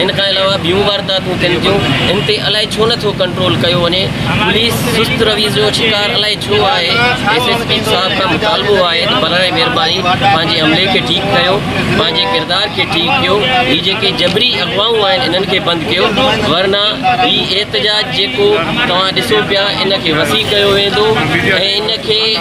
ان کان علاوه ٻيون وارداتون ٿين ٿيون، ان تي الائي ڇو نه ٿو ڪنٽرول ڪيو وڃي، پوليس سست رويي جو شڪار الائي ڇو آهي، ايس ايس پي صاحب کان مطالبو آهي ته براهه مهرباني پنهنجي عملي کي ٺيڪ ڪيو، پنهنجي ڪردار کي ٺيڪ ڪيو، هي جيڪي جبري اغوائون آهن انهن کي بند ڪيو، ورنه هي احتجاج جيڪو توهان ڏسو پيا ان کي وسيع ڪيو ويندو ۽ ان کي.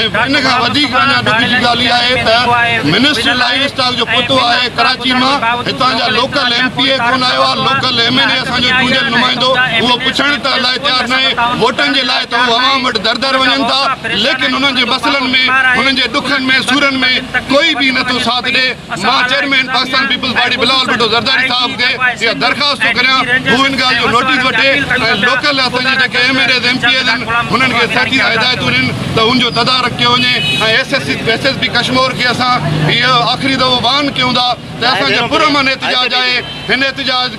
۽ ان کان وڌيڪ اڃا ڏک جي ڳالهه اها آهي ته منسٽر لائيو اسٽاڪ جو پتو آهي ڪراچي مان هتان جا لوڪل ايم پي اي ڪونه آيو آهي لوڪل ايم اين اي اسان جو چونڊيل نمائندو اهو پڇڻ ته لاء تيار ناهي ووٽن جي لاء ته هو عوام وٽ در در وڃن ٿا ليڪن انهن جي مسئلن ۾ انهن جي ڏکن ۾ سورن ۾ ڪوئي به نٿو ساٿ ڏي مان chairman Pakistan Peoples Party Bilawal Bhutto Zardari صاحب کي اها درخواست ٿو ڪريان هو ان ڳالهه جو نوٽيس وٺي ۽ لوڪل اسان جي جيڪي M N As M P As آهن انهن کي سختي سان هدايتون ڏين ته ان جو تدارڪ ڪيو وڃي ۽ S S S S P Kashmore کي اسان اهو آخري دفعو واهن ڪيون ٿا ته اسان جو پرامن احتجاج آهي هن احتجاج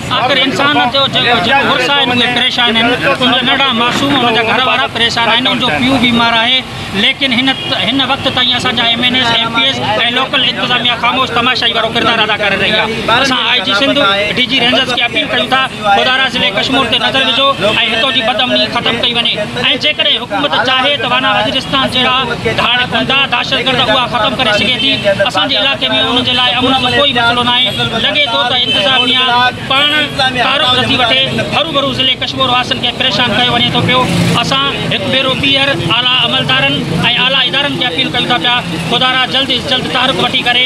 آخر انسان نه ٿيو جو جيڪو مڙس آهن اهي پريشان آهن ان جا ننڍڙا معصوم ان جا گهر وارا پريشان آهن ان جو پيء بيمار آهي ليڪن هن هن وقت تائين اسان جا M N As M P As ۽ local انتظاميا خاموش تماشائي وارو ڪردار ادا ڪري رهي آهي اسان I G Sindh D G Rangers کي اپيل ڪيون ٿا خدارا ضلعي ڪشمور تي نظر وجهو ۽ هتو جي بد امني ختم ڪئي وڃي. ۽ جيڪڏهن حڪومت چاهي ته وانا وزيرستان جهڙا ڌاڙ گنڊا دهشتگرد اها ختم ڪري سگهي ٿي، اسان جي علائقي ۾ ان جي لاء امن جو ڪوئي مسئلو ناهي، لڳي ٿو ته انتظاميا پاڻ تعارف نٿي وٺي، هروڀرو ضلعي ڪشمور واسين کي پريشان ڪيو وڃي ٿو پيو، اسان هڪ ڀيرو ٻيهر اعليٰ عملدارن ۽ اعليٰ ادارن کي اپيل ڪيون ٿا پيا خدارا جلد از جلد تحرڪ وٺي ڪري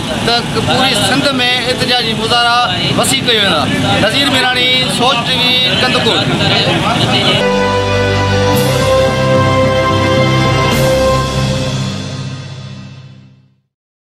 ته پوري سنڌ ۾ احتجاجي مظاهرا وسيع ڪيو ويندا، نذير ميراڻي، سوچ ٽي وي، ڪنڌڪوٽ.